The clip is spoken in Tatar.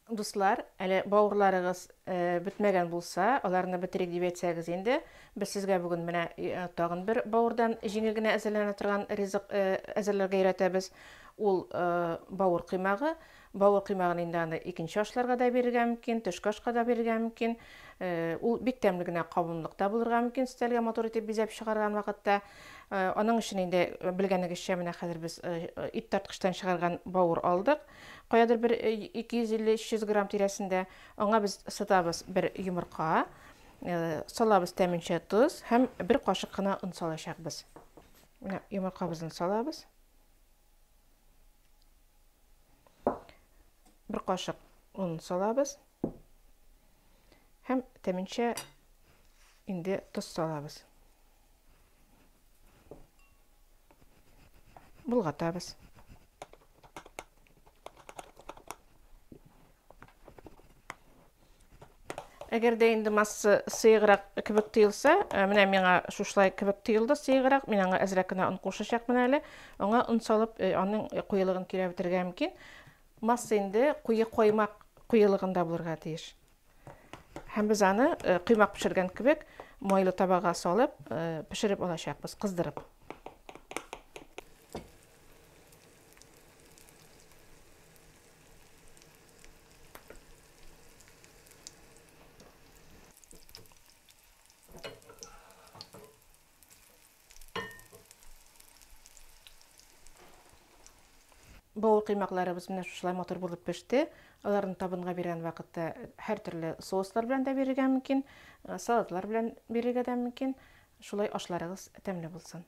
Дуслар, әле бавырларыгыз бетмәгән булса, аларны бетерик дип әйтсәгез инде, без сезгә бүген менә тагын бер бавырдан җиңел генә әзерләнә торган ризык әзерләргә өйрәтәбез. Ул бавыр коймагы. Бавыр коймагын инде аны икенче ашларга да бирергә мөмкин, төшке ашка да бирергә мөмкин. Ул бик тәмле генә кабымлык та булырга мөмкин, өстәлгә матур итеп бизәп чыгарган вакытта. Аның өчен инде белгәнегезчә, менә хәзер без ит тарткычтан чыгарган бавыр алдык. Каядыр бер 250-300 грамм тирәсендә. Аңа без сытабыз бер йомырка, салабыз тәменчә тоз һәм бер кашык кына он салачакбыз. Менә йомыркабызны салабыз. Бер кашык он салабыз һәм тәменчә инде тоз салабыз. Болгатабыз. Әгәр дә инде масса сыеграк кебек тоелса, э, менә миңа шушлай кебек тоелды сыеграк, мин аңа әзрәк кенә он кушачакмын әле. Аңа он салып, э, аның э, куелыгын кирәп бетергә мөмкин. Масса инде куе коймак куелыгында булырга тиеш. Һәм без аны коймак пешергән кебек майлы табага салып, пешереп алачакбыз, кыздырып. Бау кыймакларыбыз менә шушылай матур булып пеште. Аларны табынга биргән вакытта һәр төрле соуслар белән дә бирергә мөмкин, э, салатлар белән бирергә дә мөмкин. Шулай ашларыгыз тәмле булсын.